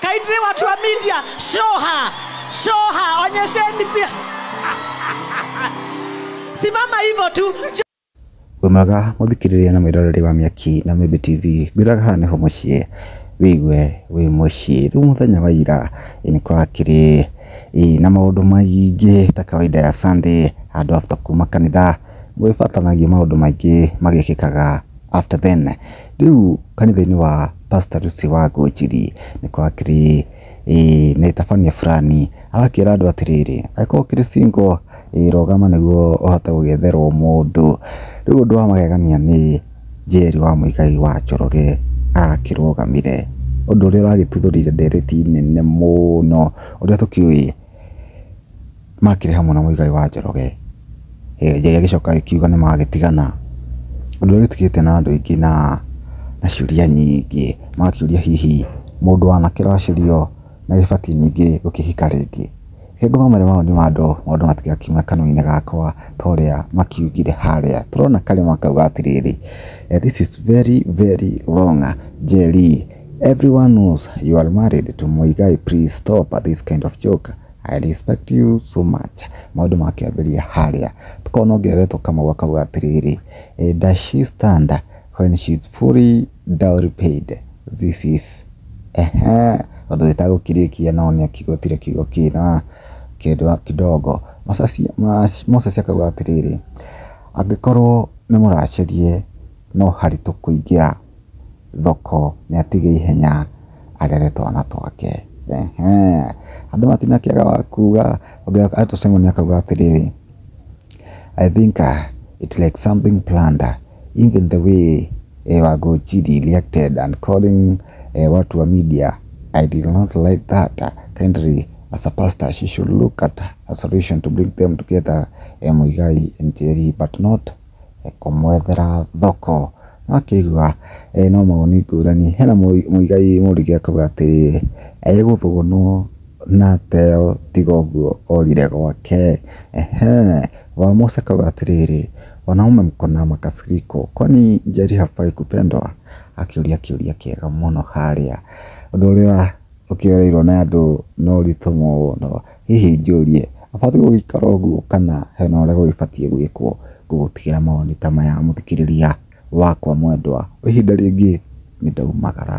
Kindly watu wa media, show her. Show her, onyesheni pia. Simama hivyo tu. Wemaga muthikiriria na mwiroreri wa miaki na Mĩmbi TV ngwiraga haha nĩho mũciĩ wĩigue wĩ mũciĩ rĩu mũthenya wa ira ĩ, nĩ kũrakĩrĩ ĩ, na maũndũ maingĩ ta kawaida ya Sunday andũ after kuma kanitha Gũgĩbataranagia maũndũ maingĩ magĩkĩkaga after then. Rĩu kanitha-inĩ wa Pastor Lucy Wangonjiri nĩ kwakĩrĩ na ĩtabania burani. Agakĩra andũ atĩrĩrĩ, angĩkorwo ũkĩrĩ single rũgama nĩguo ũhote gũgĩetherwo mũndũ. Rĩu ũndũ wa magegania nĩ Njeri wa Mũigai wa Njoroge arakĩrũgamire. Ũndũ ũrĩa ũragĩtuthũrire ndereti nene mũno ũrĩa tũkĩũĩ. makĩrĩ hamwe na Muigai wa Njoroge, Njoroge agĩcoka agĩkiuga nĩ magĩtigana, ũndũ ũrĩa ũgĩtigĩte na andũ aingĩ na ciũria nyingĩ, magakĩũria hihi mũndũ wa anake ũraciarirwo nĩ agĩbatiĩ ningĩ gũkĩhika rĩngĩ? Reke ngũmamare mawoni ma andũ, maũndũ matigakĩume kanua-inĩ gakwa ta ũrĩa makiugire harĩa, tũrona karima kauga atĩrĩrĩ, this is very very wrong Njeri, everyone knows you are married to Muigai, please stop this kind of joke. I respect you so much. Maũndũ makĩambĩrĩria harĩa tũkorwo no ngeretwo kamau akauga atĩrĩrĩ eh, does she stand when she is fully dowry paid this is ehe ũndũ ĩtagũkirĩkia no nĩ akigotire kiugo kĩna kĩndũ kidogo Mosasi- Mas- Moses akauga atĩrĩrĩ angĩkorwo nĩ mũracarie no haritũ kũingĩra thoko nĩ atige ihenya arere twana twake. Andũ matinakĩaga wa kuga, ũngĩona to Simon akauga atĩrĩrĩ, I think it like something planned even the way Wangonjiri reacted and calling watu wa media I did not like that kindly as a pastor she should look at a solution to bring them together Muigai and Njeri but not kũmwethera thoko. Nĩ wakĩigua ena mawoni ngũrani, hena mũigai mũrugi akauga atĩrĩ, egũthũnwo na ateo tiga ũguo orire gwake. Mũici akauga atĩrĩrĩ, wanaume mko na makasiriko kwani njeri hafai kupendwa? Akĩũria kĩũria kĩega mũno harĩa. Ũndũ ũrĩa ũkĩoereirwo nĩ andũ nĩ ũritũ mũno. Hihi njũrie, abatiĩ gũgĩikara ũguo kana hena ũrĩa gũgĩbatiĩ gwĩkwo ngũgũtigĩra mawoni ta maya mũthikĩrĩria wakwa mwendwa. Kwa ihinda rĩngĩ nĩndaumagara.